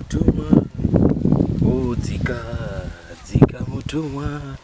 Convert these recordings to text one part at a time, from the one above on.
Tuma, oh, dzika, dzika mutumwa.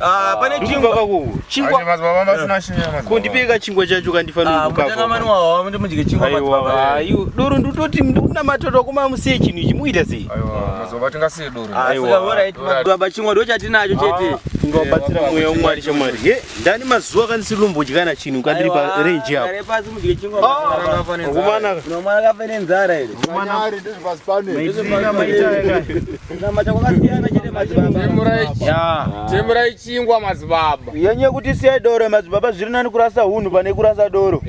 Ah, pane chingwa kako chingwa kundipeka chingwa chacho kandifaniraaamudye chingwa ayo doro ndototi ndikuna matoto kuma musiye chinhu ichi muita sei baba chingwa ndo chatinacho chete ingabatsira mweya wamwari chamwari he ndani mazuva kandisiri lombodyana chinhu kandiri parenji apoakumanaka temurai chingwa madzibaba yenye kuti siyai doro madzibaba zviri nani kurasa hunhu pane kurasa doro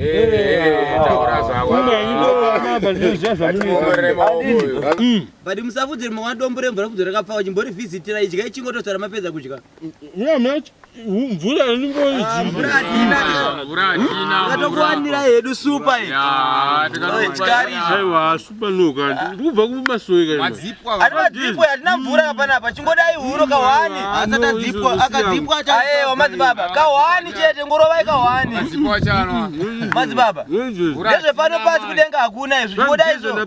but musafudze rimwe wadombo remvura kudzo rakapfawa chimbori vhizitira idyai chingototsara mapedza kudya mvura inimboiiatokuwanira ah, hedu supa aiwa supa noka ndikubva kumasoikaatimadzipo hatina mvura hapana apa chingodai huro kahwani asatadzipwaakadzipwa aewa madzibaba kahwani chete ngorovai kahwani madzibaba ndezvepano pasi kudenga hakuna izvo chingodai izvo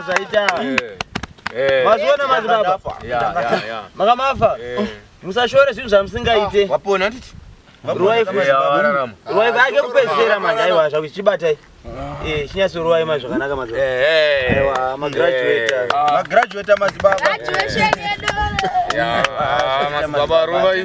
zvaita mazviona madzibaba makamafa musashore zvinhu zvamusingaite wapona titi ruwai ake kupedzisira manje aiwa zvakuti chichibatai eh, chinyatsoruwai ma zvakanaka magraduata madzibabaaruvaii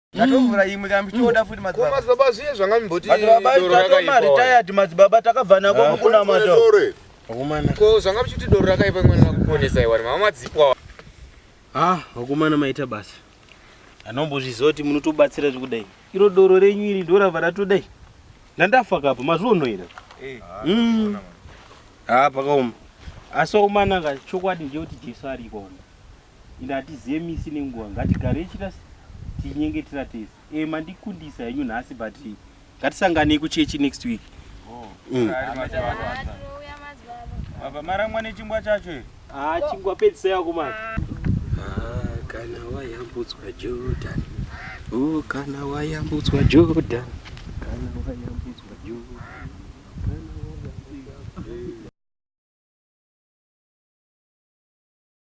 Ndatovhura imwe kana muchitoda futi madzibaba. Ko madzibaba zviye zvanga mimboti. Madzibaba tatoma retired madzibaba takabva nako mukuna mato. Vakomana. Ko zvanga muchiti doro rakaipa imwe nakuponesa iwani mama madzipwa. Ah, vakomana maita basa. Anombozviziva kuti munotobatsira zvekudai. Iro doro renyu iri ndorava ratodai. Ndandafa kapo mazuva unoira. Eh. Mm. Ah, pakaoma. Asi vakomana ka chokwadi nje kuti Jesu ariko. Ende hatizive misi nenguva ngatigarei chita tichinyengetera tese. Eh mandikundisa henyu nhasi but ngatisanganei kuchechi next week. Oh. Mm. Baba maramwa nechingwa chacho here? Ah chingwa pedzisai ako manje. Ah kana wayambutswa Jordan. Oh kana wayambutswa Jordan. Kana wayambutswa Jordan.